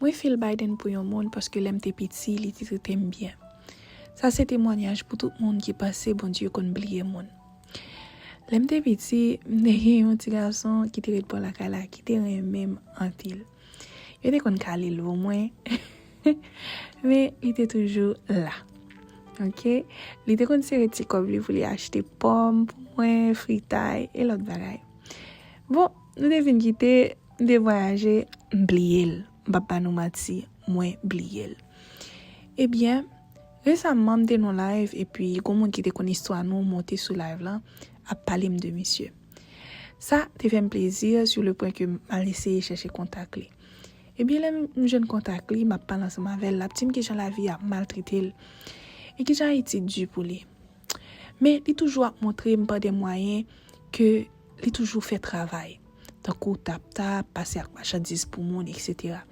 Mwen feel Biden pou yon moun paske lèm te piti li te tretem byen. Sa se temwanyaj pou tout moun ki panse Bondye konn bliye moun. Lèm te piti, m te gen yon ti gason ki te ret bò lakay la ki te renmenm anpil. Yo te konn kale l pou mwen men li te toujou la. Ok, li te konn sere ti kòb li pou li achte pòm pou mwen, fritay e lòt bagay. Bon, nou te fin kite, M te vwayaje, m bliye l. M pap ba nou manti, mwen bliye l. Ebyen, resamman m te nan yon live epi gon moun ki te konn istwa nou monte sou live lan ap pale m de misye. Sa te fè m plezi sur le point ke m al eseye chèche kontak li. Ebyen lè m jwenn kontak li, m ap pale ansanm avè l, l ap di m kijan lavi a maltrete l e kijan Ayiti di pou li. Men li toujou ap montre m pa de mwayen ke. Li toujou fè travay, tankou tap tap, pase ak machandiz pou moun, eksetera.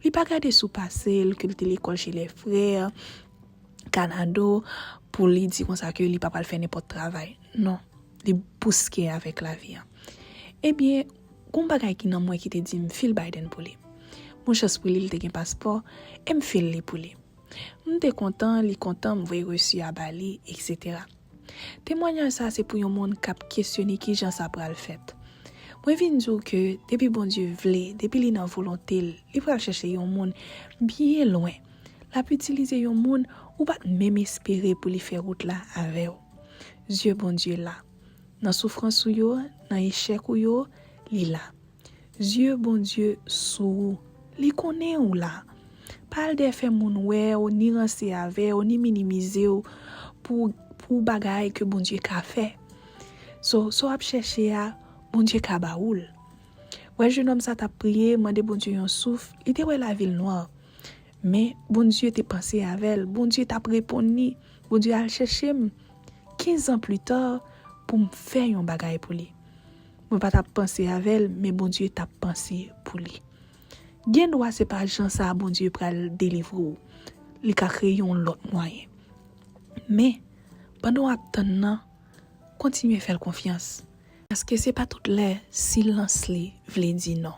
Li pa gade sou pase l, ke li te lekòl che lè frè, kanado, pou li di konsa ke li pa pral fè nenpòt travay. Non, li bouske avèk lavi an. Ebyen, gon bagay ki nan mwen ki te di m fil Biden pou li. Bon chans pou li, li te gen paspò, e m fil li pou li. M te kontan, li kontan, m voye resu a ba li, eksetera. Temwanyaj sa se pou yon moun kap kesyone kijan sa pral fèt. Mwen vin di w ke depi Bondye vle, depi li nan volonte l, li pral chèche yon moun byen lwen, lap itilize yon moun ou pat menm espere pou li fè wout la avè w. Zye Bondye la. Nan soufrans ou yo, nan echèk ou yo, li la. Yeux Bondye sou ou. Li konnen ou la. Pa al dèyè fè moun wè ou ni ranse avè ou ni minimize ou pou pou bagay ke Bondye ka fè. So sa w ap chèche a Bondye ka ba ou l. Wè jenòm sa tap priye mande Bondye yon souf li te wè lavi l nwa men Bondye te panse avè l Bondye tap reponn li Bondye al chèche m 15 ans plus tard pou m fè yon bagay pou li. Mwen pa tap panse avè l men Bondye tap panse pou li. Gen dwa se pa jan sa Bondye pral delivre w, li ka kreye yon lòt mwayen. Men, pandan w ap tann nan, kontinye fè l konfyans. Paske se pa tout lè silans li vle di non.